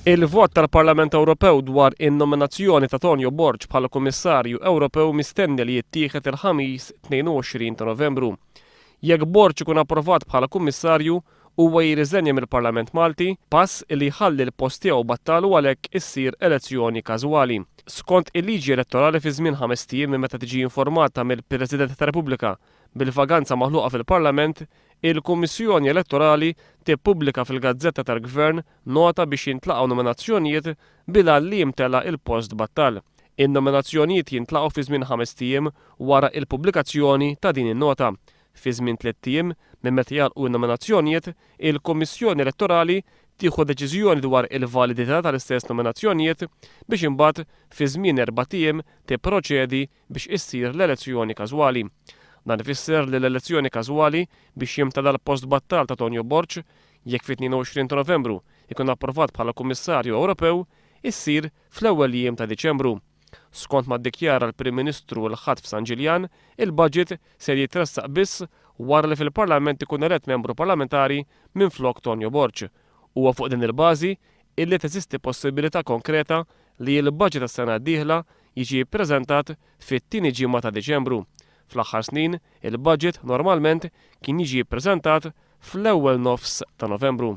Il-vot tal-Parlament Ewropew dwar in-nominazzjoni ta' Tonio Borg bħala Kummissarju Ewropew mistenni li jittieħed il-Ħamis 22 ta' Novembru. Jekk Borg ikun approvat bħala Kummissarju, huwa jirriżenja mill-Parlament Malti, pass li jħalli l-post tiegħu battal u għalhekk issir elezzjoni każwali. Skont il-liġi elettorali fi żmien ħamest ijiem minn meta tiġi informata mill-President tar-Repubblika, Bil-vaganza maħluqa fil-Parlament, il-Kummissjoni Elettorali tippubblika fil-gazzetta tal-Gvern nota biex jintlaqgħu nominazzjonijiet bil-għan li jimtela il-post b'Attal. In-nominazzjonijiet jintlaqgħu fi żmien ħamest ijiem wara il-pubblikazzjoni ta' din in-nota. Fi żmien tliet ijiem minn meta jagħlqu n-nominazzjonijiet, il-Kummissjoni Elettorali tieħu deċiżjoni dwar il-validità tal-istess nominazzjonijiet biex imbagħad fi żmien erbat ijiem tipproċedi biex issir l-elezzjoni każwali. Dan ifisser li l-elezzjoni każwali biex jimtela l-post b'attal ta' Tonio Borg, jekk fit-22 ta' Novembru jkun approvat bħala Kummissarju Ewropew, issir fl-ewwel jiem ta' Diċembru. Skont ma ddikjara l-Prim Ministru l-Ħadd f'San Ġiljan, il-budget ser jitressaq biss wara li fil-Parlament ikun elett membru parlamentari minflok Tonio Borg. Huwa fuq din il-bażi illi teżisti possibilità konkreta li l-baġit għas-sena d-dieħla jiġi ppreżentat fit-tieni ġimgħa ta' Diċembru. Fl-aħħar snin, il-baġit normalment kien jiġi ppreżentat fl-ewwel nofs ta' Novembru.